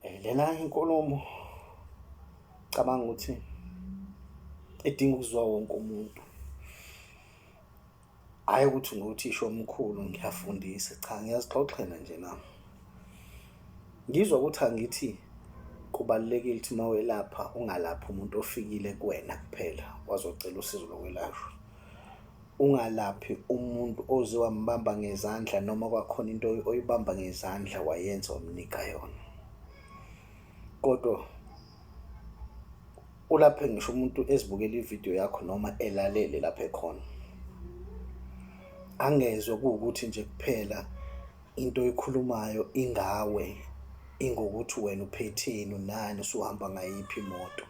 Eh, lena inkulumo cabanga ukuthi edinga ukuzwa wonke umuntu hhayi ukuthi nguthisha omkhulu ngiyafundisa cha ngiyazixoxela nje nami ngizwa ukuthi angithi kubalulekile ukuthi uma welapha ungalaphi umuntu ofikile kuwena kuphela wazocela usizo lokwelashwa Ungalaphi umuntu oze wambamba ngezandla noma kwakhona into oyibamba ngezandla wayenza wamnika yona. Kodwa ulaphe ngisho umuntu ezibukela ividiyo yakho noma elalele lapho ekhona angezwe kuwukuthi nje kuphela into oyikhulumayo ingawe ingokuthi wena uphetheni unani usuhamba ngayiphi imoto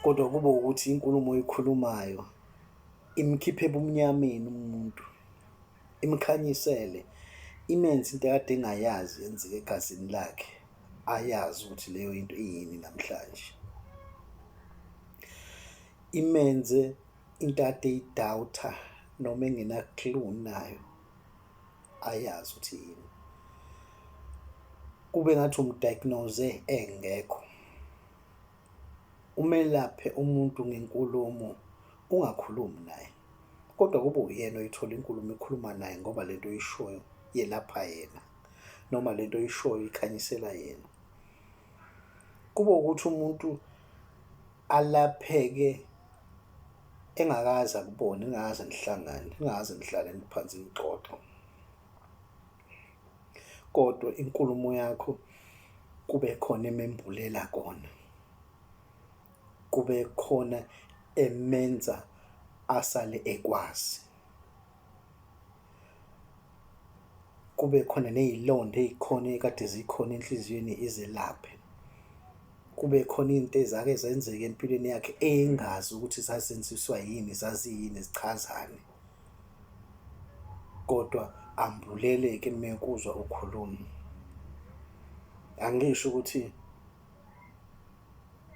kodwa kube ukuthi inkulumo oyikhulumayo imkhiphe ebumnyameni umuntu imkhanyisele imenze into ekade engayazi yenzeke egazini lakhe ayazi ukuthi leyo into iyini namhlanje imenze into ade idawutha noma engena clue nayo ayazi ukuthi yini kube ngathi umdiagnose engekho umelaphe umuntu ngenkulumo ungakhulumi naye kodwa kube uyena oyithola inkulumo ekhuluma naye ngoba lento oyishoyo yelapha yena noma lento oyishoyo ikhanyisela yena kube ukuthi umuntu alapheke engakaze akubone engakaze nihlangane engakaze nihlale phansi nixoxa kodwa inkulumo yakho kube khona emembulela kona kube khona emenza asale ekwazi kube khona ney'londa ey'khona ekade zikhona enhliziyweni izelaphe. Kube khona iy'nto ezake zenzeka empilweni yakhe engazi ukuthi zazenziswa yini, zaziyini, zichazani. Kodwa ambuleleke uma ekuzwa ukhuluma. Angisho ukuthi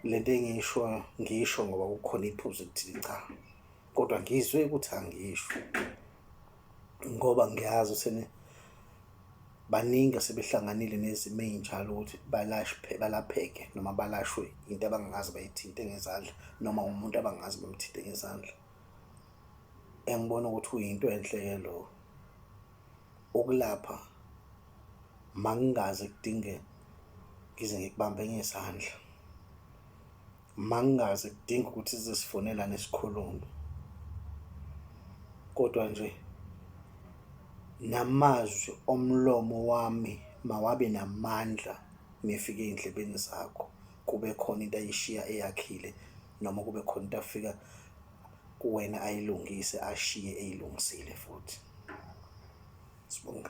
le nto engiyishoyo ngiyisho ngoba kukhona iphuzu elithile, cha. kodwa ngizwe ukuthi angisho ngoba ngiyazi sene baningi asebehlanganile nezimo ezinjalo ukuthi balashwe balapheke noma balashwe into abangazi bayithinte ngezandla noma umuntu abangazi bamthinte ngezandla engibona ukuthi uyinto enhle ke lo ukulapha mangingaze kudinge ngize ngikubambe ngesandla Mangingazi kudinga ukuthi zisifonela nesikhulumi. Kodwa nje namazwi omlomo wami mawabe namandla mefika ey'ndlebeni zakho, kube khona into ayishiya eyakhile noma kube khona into afika kuwena ayilungise ashiye eyilungisile futhi. Sbonge.